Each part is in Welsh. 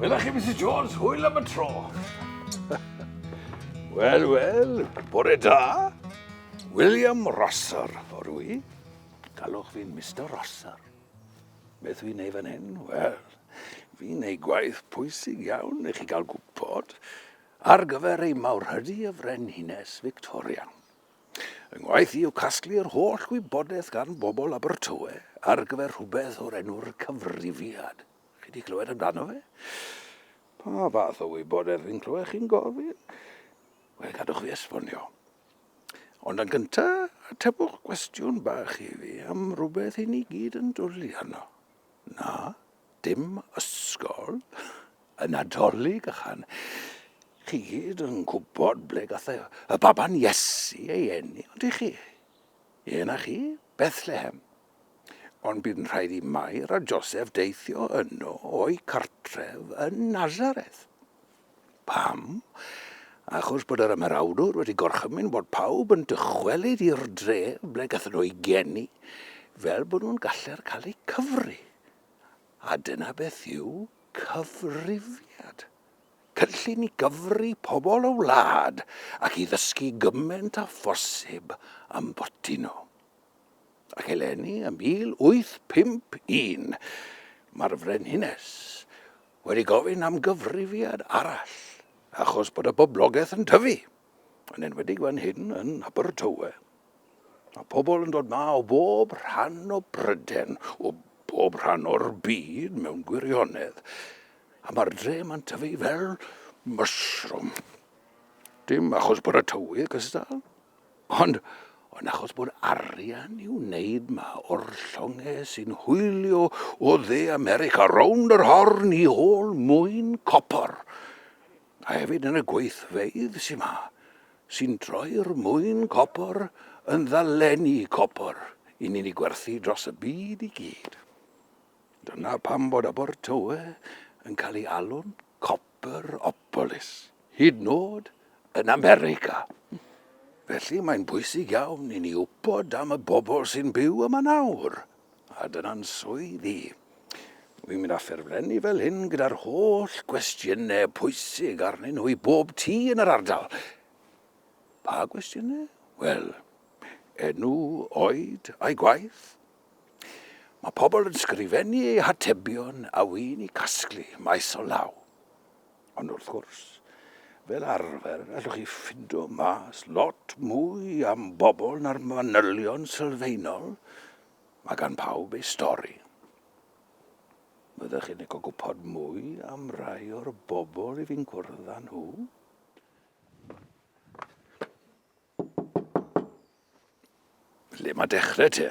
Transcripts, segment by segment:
Wela chi, Mrs Jones, hwyl am y tro. Wel, wel, bore da. William Rosser, o'r wy. Galwch fi'n Mr Rosser. Beth fi'n ei fan hyn? Wel, fi'n ei gwaith pwysig iawn i chi gael gwybod. Ar gyfer ei mawrhydi y Frenhines Victoria. Fy ngwaith i yw casglu yr holl wybodaeth gan bobl Abertawe ar gyfer rhywbeth o'r enw'r cyfrifiad. Chi di clywed amdano fe? Pa fath o wybodaeth fi'n clywed chi'n gofyn? Wel, gadwch fi esbonio. Ond yn gynta, atebwch gwestiwn bach i fi am rhywbeth i ni gyd yn dwli arno. Na? Dim ysgol? Y Nadolig ychan. Chi gyd yn gwybod ble gath y baban Iesu ei eni, ond i chi? Ie na chi, Bethlehem. Ond bu'n rhaid i Mair a Joseph deithio yno o'u cartref yn Nazareth. Pam? Achos bod yr ymerawdwr wedi gorchymyn bod pawb yn dychwelyd i'r dref ble gathen nhw eu geni, fel bod nhw'n galler cael eu cyfri. A dyna beth yw cyfrifiad. Cynllun i gyfri pobl y wlad ac i ddysgu gymaint â phosib am boti nhw. Ac eleni ym 1851, mae'r Frenhines wedi gofyn am gyfrifiad arall achos bod y boblogaeth yn tyfu, yn enwedig fan hyn yn Abertawe. Mae pobl yn dod ma o bob rhan o Bryden, o bob rhan o'r byd mewn gwirionedd, a mae'r dre yma'n tyfu fel mushroom. Dim achos bod y tywydd gystal, Ond, ond achos bod arian i'w wneud ma o'r llongau sy'n hwylio o dde America rownd yr horn i ôl mwyn copor, a hefyd yn y gweithfeydd sy'n ma, sy'n troi'r mwyn copor yn ddalenni copor i ni'n ei gwerthu dros y byd i gyd. Dyna pam bod Abertawe yn cael ei alw'n copper Boropolis, hyd yn oed yn America. Felly mae'n bwysig iawn i ni wybod am y bobl sy'n byw yma nawr, a dyna'n swydd i. Wi'n mynd â ffurflenni fel hyn gyda'r holl gwestiynau pwysig arnyn nhw i bob tŷ yn yr ardal. Pa gwestiynau? Wel, enw, oed, a'i gwaith, Mae pobl yn sgrifennu eu hatebion a wy'n i casglu maes o law. Ond wrth gwrs, fel arfer, allwch chi ffindo mas lot mwy am bobl na'r manylion sylfaenol, mae gan pawb ei stori. Byddwch chi'n licio gwybod mwy am rai o'r bobl i fi'n cwrdd â nhw? Lle mae dechrau te?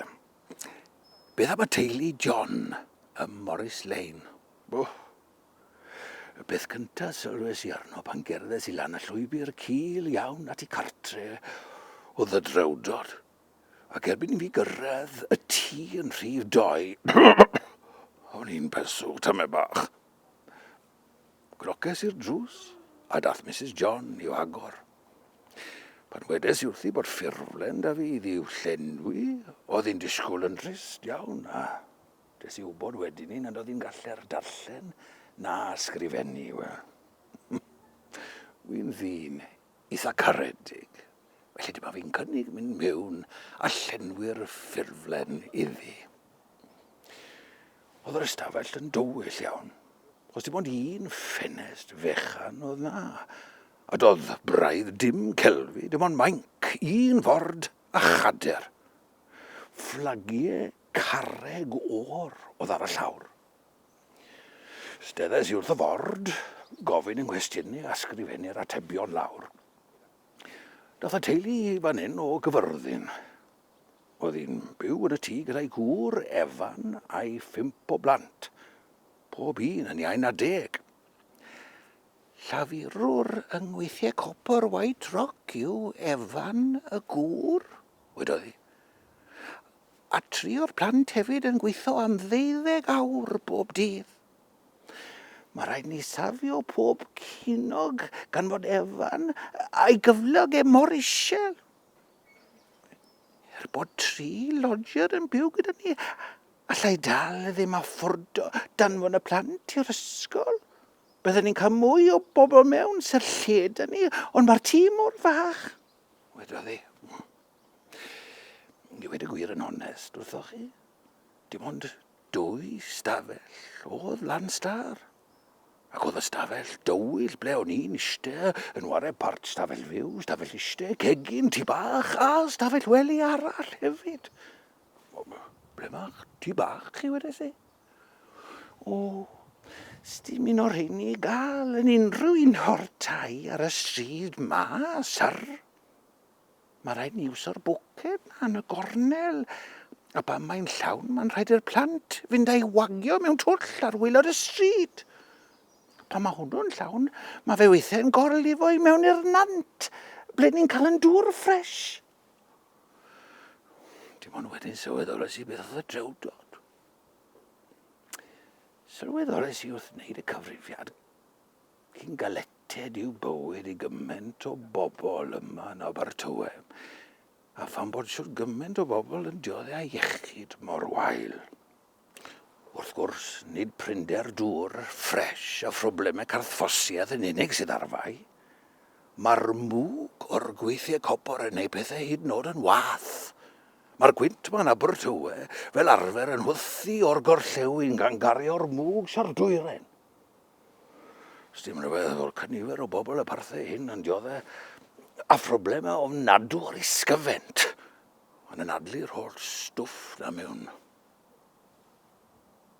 Beth am y teulu John ym Morris Lane? Oh. Y peth cyntaf sylwes i arno pan gerddes i lan y llwybr cil iawn at i cartre o ddydrewdod. Ac erbyn i fi gyrraedd y tŷ yn rhif doi, o'n i'n pesw, tame bach. Croces i'r drws, a daeth Misus John i'w agor. Pan wedes i wrthi bod ffurflen da fi iddi i'w llenwi, oedd hi'n disgwyl yn drist iawn, a des i wybod wedyn ni nad oedd hi'n galler darllen na ysgrifennu, wel. Wi'n ddyn eitha caredig, felly dyma fi'n cynnig mynd mewn a llenwi'r ffurflen iddi. Oedd yr ystafell yn dywyll iawn, achos dim ond un ffenest fechan oedd na, a doedd braidd dim celfi, dim ond mainc, un ford a chader. Fflagiau carreg o'r oedd ar y llawr. Steddais i wrth y ford, gofyn yng nghwestiynu a sgrifennu'r atebion lawr. Dath y teulu i fan hyn o Gyfyrddin. Oedd hi'n byw yn y tŷ gyda'i gŵr, Evan, a'i phump o blant, pob un yn iau na deg. Llafurwr yng ngweithiau copr White Rock yw Evan, y gŵr, wedodd hi. A tri o'r plant hefyd yn gweithio am ddeuddeg awr bob dydd. Mae rhaid ni safio pob cinog gan fod Evan a'i gyflog e mor isel. Er bod tri lodger yn byw gyda ni, alla i dal ddim a ffordo danfon y plant i'r ysgol. Byddwn ni'n cael mwy o bobl mewn sy'r lle da ni, ond mae'r tîm mor fach. Wedodd e. Ni wedi gwir yn onest wrthoch chi. Dim ond Dwy stafell oedd Lanstar, ac oedd y stafell dywyll ble o'n i'n iste yn ware part stafell fyw, stafell iste, cegin, tu bach a stafell wely arall hefyd. Ble mae'ch tu bach chi wedi si? O, Sdim un o'r rheini i gael yn unrhyw un o'r tai ar y stryd ma, syr. Mae'n rhaid ni iwso'r bwced na yn y gornel. A pan mae'n llawn, mae'n rhaid i'r plant fynd a'i wagio mewn twll ar waelod y stryd. Pan mae hwnnw'n llawn, mae fe weithiau'n gorlifo i mewn i'r nant, ble ni'n cael yn dŵr ffres. Dim ond wedyn sylweddolais i beth oedd y drewdod. Sylweddolais i wrth wneud y cyfrifiad Cyn galleted yw bywyd i gymaint o bobl yma yn Abertawe, a phan bod shwt gymaint o bobl yn diodde â iechyd mor wael. Wrth gwrs, nid prinder dŵr ffres a phroblemau carthffosiaeth yn unig sydd ar fai. Mae'r mwg o'r gweithiau copor yn gwneud pethau hyd yn oed yn wath. Mae'r gwynt ma yn Abertawe fel arfer yn hwythu o'r gorllewin gan gario'r mwg sa'r dwyrain. Sdim rhywbeth fel cynifer o bobl y parthe hyn yn diodde a phroblemau ofnadw ar ei sgyfent. Mae'n anadlu'r holl stwff na mewn.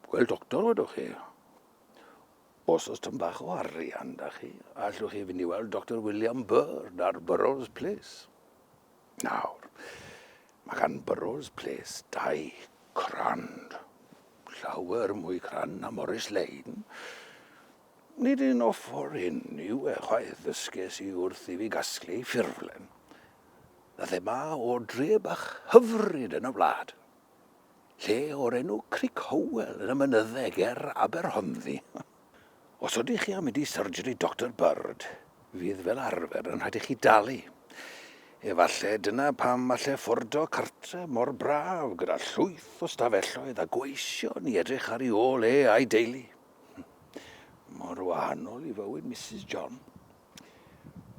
Gweld doctor wedwch chi. Os oes tyn bach o arian da chi, allwch chi fynd i weld Dr William Burr ar Burrow's Place. Nawr, mae gan Burrows Place dau crand, llawer mwy crand na Morris Lane. Nid un o ffwr hyn yw e chwaith, ddysges i wrth i fi gasglu ei ffurflen, na thema o dre bach hyfryd yn y wlad lle o'r enw Cric Howell yn y mynydde ger Aberhonddu. Os ydych chi am mynd i surgery Doctor Bird, fydd fel arfer yn rhaid i chi dalu. Efallai dyna pam allai ffordo cartre mor braf gyda llwyth o stafelloedd a gweision i edrych ar ei ôl e a'i deulu. Mor wahanol i fywyd Mrs John.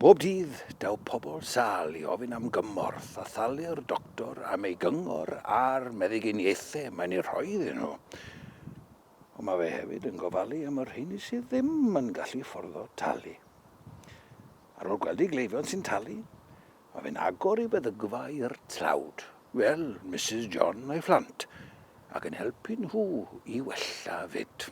Bob dydd, daw pobl sal i ofyn am gymorth a thalu'r doctor am ei gyngor a'r meddyginiaethau mae'n ei rhoi iddyn nhw. Ond mae fe hefyd yn gofalu am y rheini sydd ddim yn gallu fforddo talu. Ar ôl gweld ei gleifion sy'n talu, mae fe'n agor ei feddygfa i'r tlawd, fel Misus John a'i phlant, ac yn helpu nhw i wella fyd.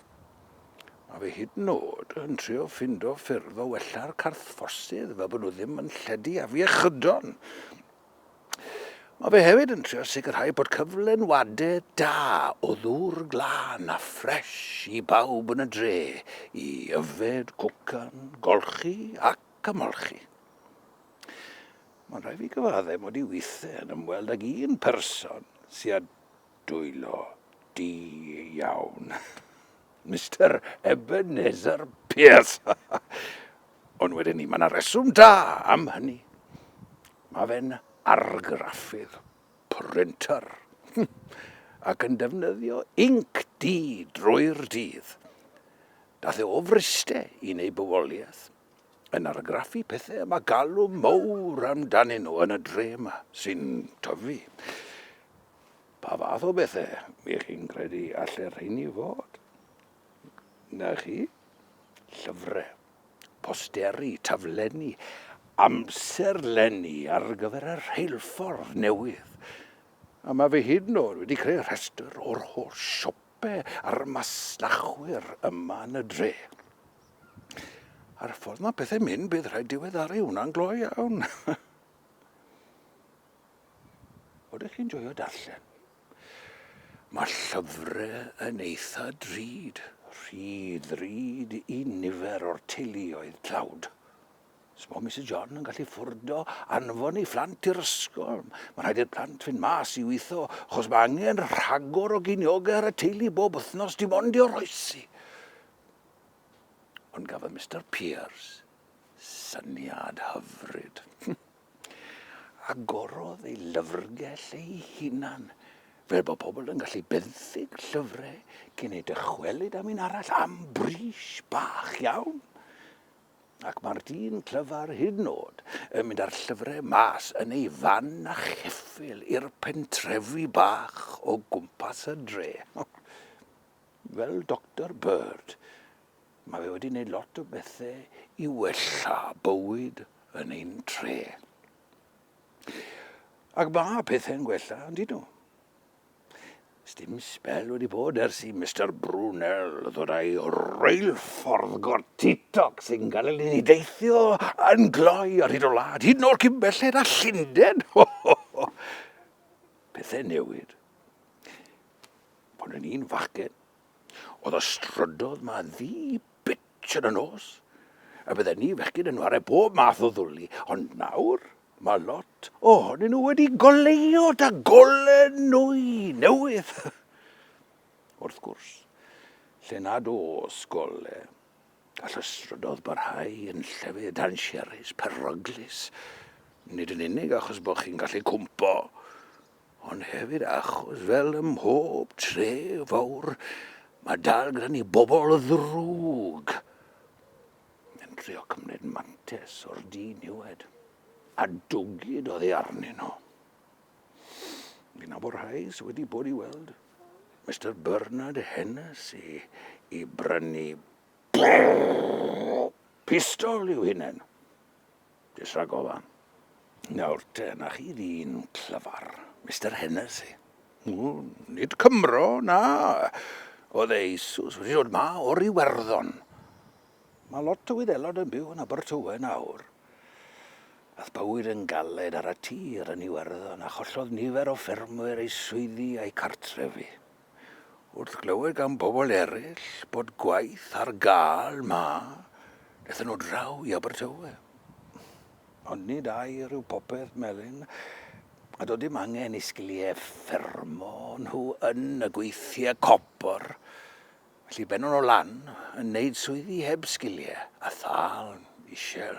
Mae fe hyd yn oed yn trio ffindo ffyrdd o wella'r carthfforsydd fel bod nhw ddim yn lledu afiechydon. Mae fe hefyd yn trio sicrhau bod cyflenwadau da o ddŵr glân a ffres i bawb yn y dre i yfed, cwcan, golchi ac ymolchi. Mae'n rhaid fi gyfaddau mod i weithiau yn ymweld ag un person sy â dwylo di iawn. Mister Ebenezer Pierce! Ond wedyn ni, mae yna reswm da am hynny. Mae fe'n argraffydd, printer, ac yn defnyddio inc di drwy'r dydd. Dath e o Fryste i neu bywoliaeth, yn argraffu pethau y mae galw mowr amdanyn nhw yn y dre yma, sy'n tyfu. Pa fath o bethau ych chi'n credu allu rheini fod? Na chi? Llyfrau, posteri, taflenni, amserlenni ar gyfer y rheilffordd newydd. A mae fi hyd yn oed wedi creu rhestr o'r holl siopau a'r masnachwyr yma yn y dre. A'r ffordd mae pethau'n mynd, bydd rhaid diweddaru hwnna'n glo iawn. Oeddech chi'n joio darllen? Mae llyfrau yn eitha drud. Rhy ddrud i nifer o'r teuluoedd tlawd. S'mo Misus John yn gallu ffwrdo anfon ei phlant i'r ysgol. Mae'n rhaid i'r plant fynd mas i weithio, achos mae angen rhagor o giniogau ar y teulu bob wythnos dim ond i oroesi. Ond gafodd Mister Pierce syniad hyfryd. Agorodd ei lyfrgell ei hunan, fel bod pobl yn gallu benthyg llyfrau cyn eu dychwelyd am un arall am bris bach iawn. Ac mae'r dyn clyfar hyd yn oed yn mynd â'r llyfrau mas yn ei fan a cheffyl i'r pentrefi bach o gwmpas y dre. Fel Doctor Bird, Mae fe wedi gwneud lot o bethau i wella bywyd yn ein tre. Ac mae pethau'n gwella, yn dyn nhw. Sdim sbel wedi bod ers i Mr Brunel ddod â'i reilffordd gortitoc sy'n cael ei ddeithio yn gloi ar hyd o wlad, hyd yn oll cyn belled a Llundain. Pethau newid. Ond yn un fachgen, Oedd y strydodd 'ma ddu bitch yn y nos, a bydden ni fechgyn yn ware bob math o ddwli, ond nawr mae lot ohonyn nhw wedi goleuo da golen nwy newydd. Wrth gwrs, lle nad oes gole, gall y strydodd barhau yn llefydd dansiarus, peryglus, nid yn unig achos bod chi'n gallu cwmpo, Ond hefyd achos fel ym mhob tre fawr, mae dal gyda ni bobl ddrwg yn trio cymryd mantes o'r diniwed a dwgyd oddi arnyn nhw. Fi'n nabod rhai sydd wedi bod i weld Mister Bernard Hennessy i brynu pistol i'w hunain. Jyst rhag ofan. Nawr te, 'na chi ddyn clyfar, Mister Hennessy. O, nid Cymro, na. Oedd e eisus wedi dod 'ma o'r Iwerddon. Mae lot o Wyddelod yn byw yn Abertawe nawr. Aeth bywyd yn galed ar y tir yn Iwerddon a chollodd nifer o ffermwyr eu swyddi a'u cartrefi. Wrth glywed gan bobl eraill bod gwaith ar gael 'ma, daethon nhw draw i Abertawe. Ond nid air yw popeth, Melin, a doedd dim angen i sgiliau ffermo nhw yn y gweithiau copr, felly bennon nhw lan yn neud swyddi heb sgiliau a thâl isel.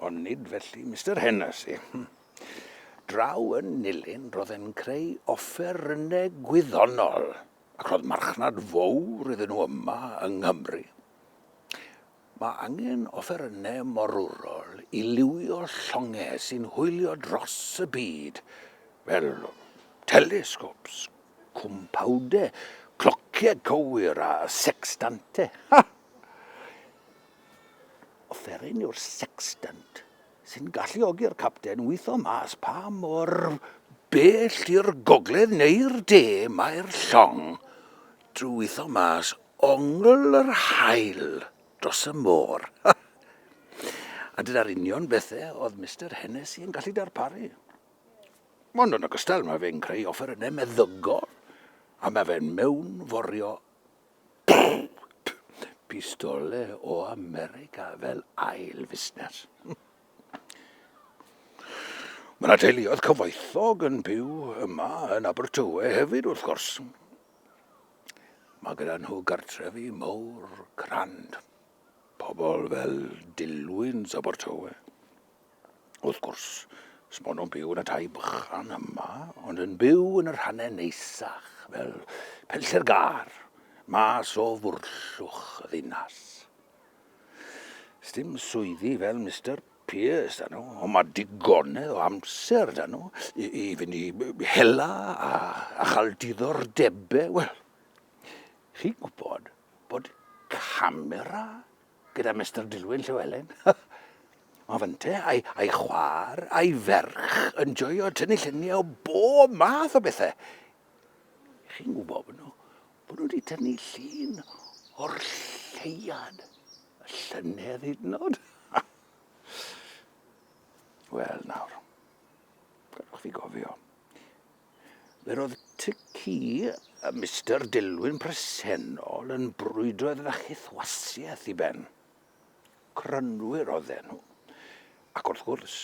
Ond nid felly Mister Hennessy. Draw yn nilyn roedd e'n creu offerynnau gwyddonol, ac roedd marchnad fowr iddyn nhw yma yng Nghymru. Mae angen offerynnau morwrol i liwio llongau sy'n hwylio dros y byd, fel telescopes, cwmpawdau, clociau cywir a sextantau. Ha! Offeryn yw'r sextant sy'n galluogi'r capten witho mas pa mor bell i'r gogledd neu'r de mae'r llong drwy witho mas ongl yr haul dros y môr. A dyna'r union bethe oedd Mister Hennessy yn gallu darparu. Ond yn ogystal mae fe'n creu offerynnau meddygol a mae fe'n mewnforio Pistole o America fel ail fusnes. Mae yna teuluoedd cyfoethog yn byw yma yn Abertawe hefyd wrth gwrs. Mae gyda nhw gartrefi mawr crand. Pobl fel Dilwyn Abertawe. Wrth gwrs, sbon nhw'n byw yn y tai bychan yma, ond yn byw yn y rhannau neisach, fel penllter gar, mas o fwrllwch y ddinas. Sdim swyddi fel Mr Pearce da nhw, ond mae digonedd o amser da nhw i, i fynd i hela a, a chael diddordebau. Wel, chi'n gwybod bod camera gyda Mister Dilwyn Llewelyn. Mae fynte a'i, ai chwar a'i ferch yn joio tynnu lluniau o bob math o bethau. Chi'n gwybod bod nhw, bod nhw wedi tynnu llun o'r lleiad, y llynedd hyd yn oed. Wel nawr, gadwch fi gofio, Yr oedd tŷ ci y Mister Dilwyn presennol yn brwydro i ddod â chythwasiaeth i ben. Crynwyr oedden nhw. Ac wrth gwrs,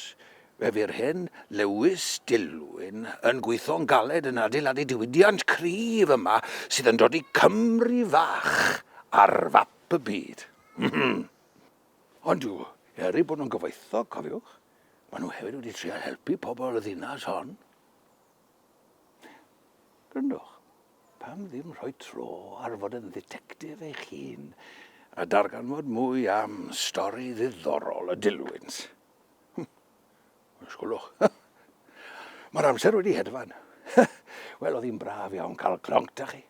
fe fu'r hen Lewis Dilwyn yn gweithio'n galed yn adeiladu diwydiant cryf yma sydd yn dodi Cymru fach ar fap y byd. Ond yw, er eu bod nhw'n gyfoethog, cofiwch, maen nhw hefyd wedi trial helpu pobl y ddinas hon. Gryndwch, pam ddim rhoi tro ar fod yn dditectif eich hun a darganfod mwy am stori ddiddorol y dilwynt? Hm, ysgwlwch. Mae'r amser wedi hedfan. Wel, oedd hi'n braf iawn cael cronc da chi.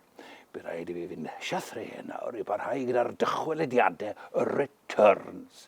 Bydd rhaid i fi fynd siathreu nawr i barhau gyda'r dychwelediadau y returns.